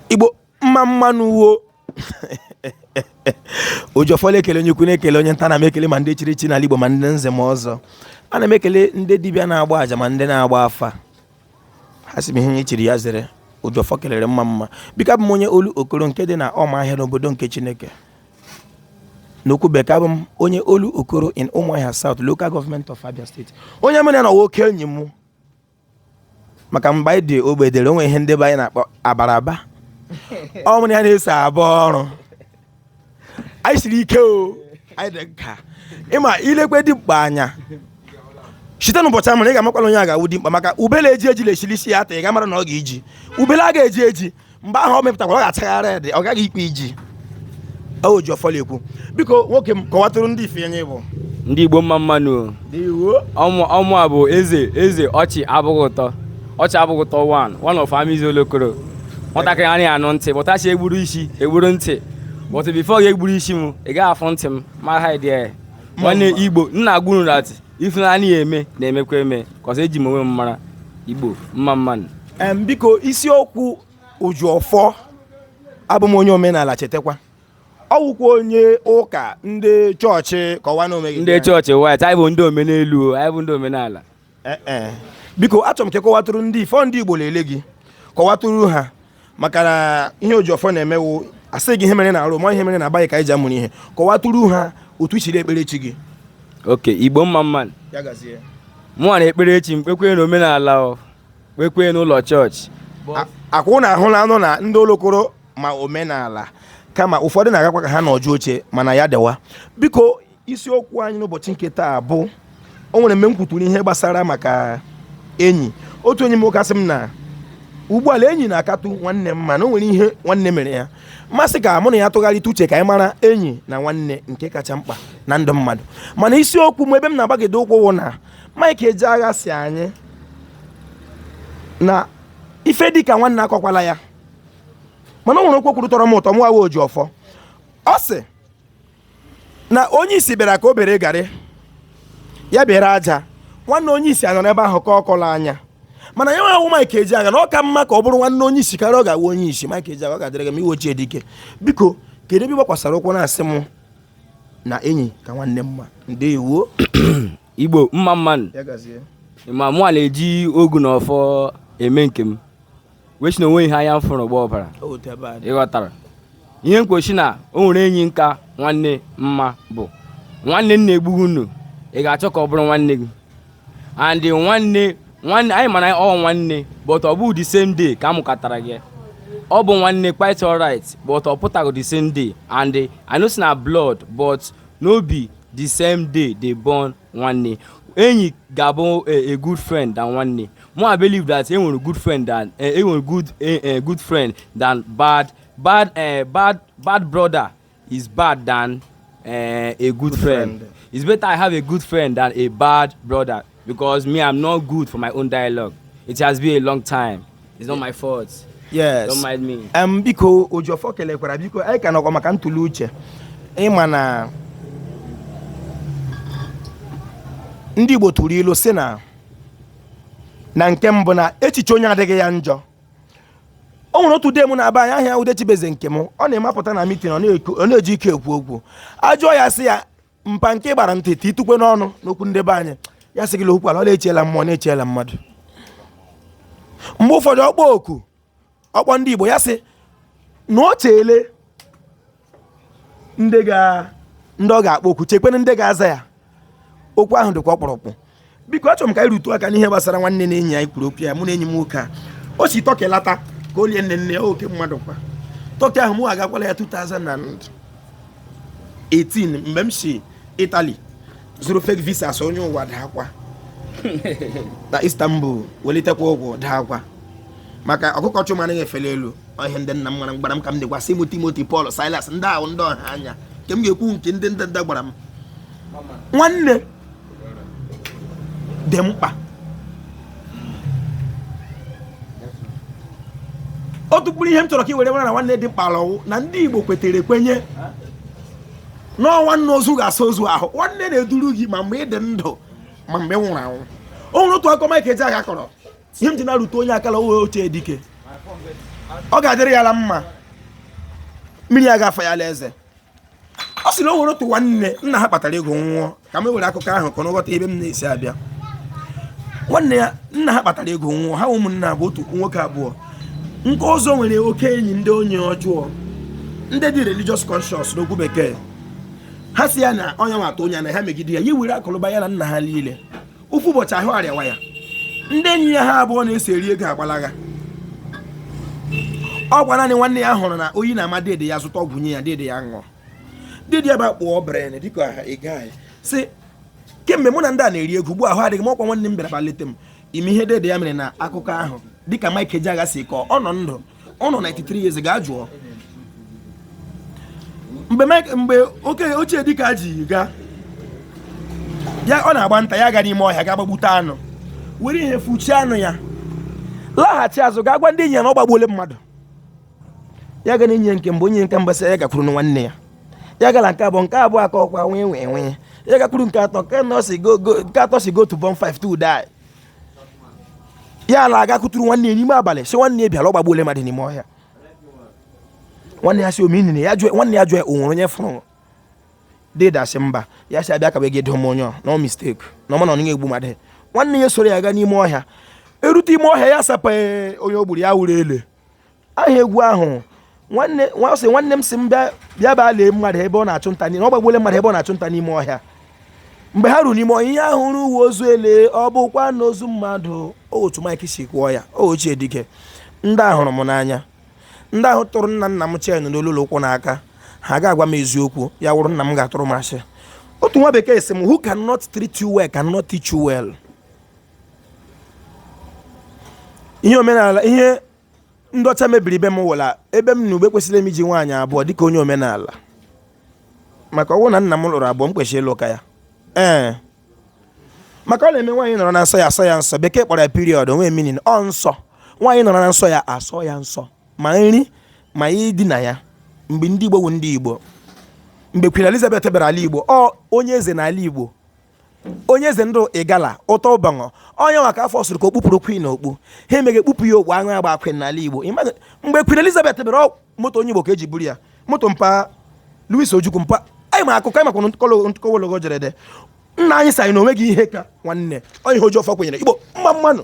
igbo mma mma nụ wo ojiọfọ na-ekele onye ukwu na-ekele onye nta ana m ekele ma ndị chiri echi n'ala igbo ma ndị nze ma ọzọ ana m ekele ndị dibịa na-agba aja ma ndị na-agba afa ha sị m ihe onye chiri ya zere ojiọfọ kelere mma mma biko abụ m onye olokoro nke dị na ọmaahịa n'obodo nke chineke n'okwu bekee abụ m onye olokoro in ụmụahịa south local government of abia state onye mụ na ya nọ nwoke enyi m maka mgbe anyị dị ogbede o nwere ihe ndị be anyị na-akpọ abaraba ọ mụ na ya na-eso aba ọrụ anyị siri ike o anyị dị nka ị ma i lekwe dimkpa anya site n'ụbọchị a mụrụ ị ga-amakwala onye ga-awụ dimkpa maka ube la-eji eji na-esi l'isi ya ata ị ga-amara na ọ ga-eji ubele a ga-eji eji mgbe ahụ ọ mepụtakwara ọ ga-achagharị dị ọ gaghị ikpe iji ojiọfọ la-ekwu biko nwoke m kọwatụrụ ndị ife onye ị bụ ndị igbo mma mma nụ ọ mụwa bụ eze eze ọchị abụghị ụtọ ọchị abụghị ụtọ one of amizi olokoro nwatakịrị anaghị anụ ntị ụbọchị e gburu isi e gburu ntị but before a ga-egburu isi m ị gaghị afụ ntị m mara ha dị nwanne igbo nna agwụrụ na ife na-anaghị eme na-emekwa eme cos eji m onwe m mara igbo mma mma nụ em biko isiokwu ojiọfọ abụ m onye omenala chetakwa ọ wụkwa onye ụka ndị chọọchị kọwa na omeghị ndị chọọchị white anyị bụ ndị omenelu o, anyị bụ ndị omenala Eh, eh. biko achọrọ m ka ị kọwatụrụ ndị ifọ ndị igbo la-ele gị kọwatụrụ ha maka na ihe ojiọfọ na-eme wụ a sị gị ihe mere na arụ ma ihe mere na aba ka anyị ji amụrụ ihe kọwatụrụ ha otu i siri ekpere chi gị okay igbo mma mma mụnwa na-ekpere chi m kpekwe na omenala kpekwe n'ụlọ chọọchị akwụ na ahụ na anụ na ndị olokoro ma omenala kama ụfọdụ na-agakwa ka ha nọjuo oche mana ya dịwa biko isiokwu anyị n'ụbọchị nke taa bụ o nwere mgbe m kwuturu ihe gbasara maka enyi otu enyi m nwoke sị m na ugbu a la enyi na-akatụ nwanne mma na o nwere ihe nwanne mere ya m sị ka mụ na ya tụgharịta uche ka anyị mara enyi na nwanne nke kacha mkpa na ndụ mmadụ mana isiokwu m ebe m na-agbagide ụkwụ wụ na Mike Ejeagha sị anyị na ife dịka nwanne akọkwala ya mana o nwere okwu o kwuru tọrọ m ụtọ mụwa wụ ojiọfọ ọ sị na onye isi bịara ka o bere garị ya bere aja nwanne onye isi anọrọ n'ebe ahụ ka ọ kọla anya mana ya nwa wụ Mike Ejeagha na ọ ka mma ka ọ bụrụ nwanne onye isi karịa ọ ga-awụ onye isi Mike Ejeagha ọ ga-adịrị gị mma ị wụ ochie dike biko kedu ebe ị gbakwasara ụkwụ na-asị m na enyi ka nwanne mma ndewo igbo mma mma nụ ma mụwa na-eji ogu na ọfọ eme nke m wee si na o nwe ihe anya m fụrụ gbaa ọbara ịghọtara ihe mkpochi na o nwere enyi ka nwanne mma bụ nwanne na-egbu gị nu ị ga-achọ ka ọ bụrụ nwanne gị and nwanne nwanne anyị ma na ọ nwanne but ọ bụghị the same day ka a mụkọtara gị ọ bụ nwanne quite alright but ọ pụtaghị the same day and I know say na blood but no be the same day they born nwanne enyi ga-abụ a good friend than nwanne Mo, I believe that e nwere good friend than e eh, nwere good eh, eh, good friend than bad bad eh, bad bad brother is bad than eh, a good, good friend. friend. It's better I have a good friend than a bad brother because me I'm not good for my own dialogue. It has been a long time. It's not my fault. Yes. Don't mind me. Um, biko Ojofo kelekwara biko anyị ka nọkwa maka ntụli uche ịma na ndị Igbo tụrụ ilu si na na nke mbụ na echiche onye adịghị ya njọ o nwere otu dee m na-aba anyị ahịa udechibeze nke m ọ na-emapụta na mitin ọ na-eji ike ekwu okwu ajụọ ya sị ya mpa nke ị gbara nkịtị itukwe n'ọnụ n'okwu ndị be anyị ya sị gị okwu ala ọ na-eche ala mmụọ na-eche ala mmadụ mgbe ụfọdụ ọkpọ oku ọkpọ ndị Igbo ya sị na o cheele ndị ga ndị ọ ga-akpọ oku chekwene ndị ga-aza ya okwu ahụ dịkwa ọkpụrụkpụ biko achọrọ m ka anyị rutu aka n'ihe gbasara nwanne na enyi anyị kwuru okwu ya mụ na enyi m nwoke a o si Turkey lata ka o lie nne nne ya oke mmadụ kwa Turkey ahụ mụ agakwala ya 2018 mgbe m si Italy zụrụ fake visa so onye ụwa daakwa na Istanbul welitekwa ụkwụ daakwa maka ọkụkọ chị ụmụ anaghị efeli elu ọ ihe ndị nna m gwara gbara m ka m dịkwa sị m Timothy Paul Silas ndị ahụ ndị ọha anya nke m ga-ekwu nke ndị ndị ndị gbara m nwanne dị mkpa otu mkpụrụ ihe m chọrọ ka i were mara na nwanne dị mkpa la ọ wụ na ndị igbo kwetere ekwenye na ọ nwanna ozu ga-asa ozu ahụ nwanne na-eduru gị ma mgbe ị dị ndụ ma mgbe ị nwụrụ anwụ o nwere otu akụkọ Mike Ejeagha kọrọ ihe m ji na-arutu onye aka la ọ wụ ochie dike ọ ga-adịrị ya la mma mmiri agaghị afa ya la eze ọ sị na o nwere otu nwanne nna ha kpatara ego nwụọ ka m were akụkọ ahụ ka ọ ghọta ebe m na-esi abịa nwanne ya nna ha kpatara ego nwụọ ha ụmụnne bụ otu nwoke abụọ nke ọzọ nwere oke enyi ndị onye ọjọọ ndị dị religious conscious n'okwu bekee ha si ya na onye nwata onye na ha megide ya ya were akụ la ụba ya na nna ha niile ofu ụbọchị ahụ arịawa ya ndị enyi ya ha abụọ na-eso eri ego agbalaga ọkwa naanị nwanne ya hụrụ na oyi na-ama dede ya zụta ọgwụ nye ya dede ya ṅụọ dede ya ba kpụọ brain dịka ị ga-asị kemgbe mụ na ndị a na-eri ego ugbu a ahụ adịghị m ọkwa nwanne m bịara bịa leta m ị ma ihe dede ya mere na akụkọ ahụ dịka Mike Ejeagha si kọọ ọ nọ ndụ ọ nọ 93 years gaa jụọ mgbe Mike mgbe oke ochie dike Ejeagha ọ na-agba nta ya ga n'ime ọhịa ga gbagbute anụ were ihe fuchie anụ ya laghachi azụ ga gwa ndị enyi ya na ọ gbagbuole mmadụ ya ga na enyi nke mbụ onye nke mbụ asị ya gakwuru nwanne ya ya gaa la nke abụọ nke abụọ akọọkwa nwee nwee nwee ya gakwuru nke atọ nke anọ si go go nke atọ si go to bonfire to die ya alaa ga kụtụrụ nwanne ya n'ime abalị sị nwanne ya bịa na ọ gbagbuole mmadụ n'ime ọhịa nwanne ya sị o me nini ya jụọ nwanne ya jụọ o nwere onye fụrụ dede a sị mba ya sị a bịa ka be gị duo m onye ọ no mistake na ọ ma na onye egbu mmadụ nwanne ya soro ya gaa n'ime ọhịa erute ime ọhịa ya sapa onye o gburu ya wụrụ ele aha egwu ahụ nwanne ọ sị nwanne m sị m bịa bịa baa lee mmadụ ebe ọ na-achụ nta n'ime ọ gbagbuole mmadụ ebe ọ na-achụ nta n'ime ọhịa mgbe ha ruru n'ime ọhịa ihe ha hụrụ wụ ozu ele ọ bụkwaghị ozu mmadụ ọ otu Mike si kwuo ya o ochie dike ndị a hụrụ m n'anya ndị ahụ tụrụ nna nna m chain n'olu n'ụkwụ n'aka ha ga-agwa m eziokwu ya wụrụ nna m ga-atụrụ m asị otu nwa bekee sị m who cannot treat you well cannot teach you well ihe omenala ihe ndị ọcha mebiri ebe m wụla ebe m nọ ugbu a kwesịrị m iji nwaanyị abụọ dịka onye omenala maka ọ wụ na nna m lụrụ abụọ m kwesịrị ịlụ ka ya ee maka ọ na-eme nwaanyị nọrọ na nsọ ya asọ ya nsọ bekee kpọrọ ya period o nweghị meaning ọ nsọ nwaanyị nọrọ na nsọ ya asọ ya nsọ ma nri ma ya idina ya mgbe ndị Igbo wụ ndị Igbo mgbe Queen Elizabeth bịara ala Igbo ọ onye eze n'ala Igbo onye eze ndị Igala Attah Oboni onye nwa ka afọ sịrị ka o kpupụrụ Queen okpu ha emeghe kpupụ ya okpu aṅụ agbaa Queen n'ala Igbo mgbe Queen Elizabeth bịara moto onye Igbo ka e ji buru ya moto mpa Louis Ojukwu mpa anyị ma akụkọ anyị makwa nkọwa ologo jere de nna anyị sị anyị na o nweghị ihe ka nwanne onye ihe ojii ọfọ kwenyere Igbo mma mma nụ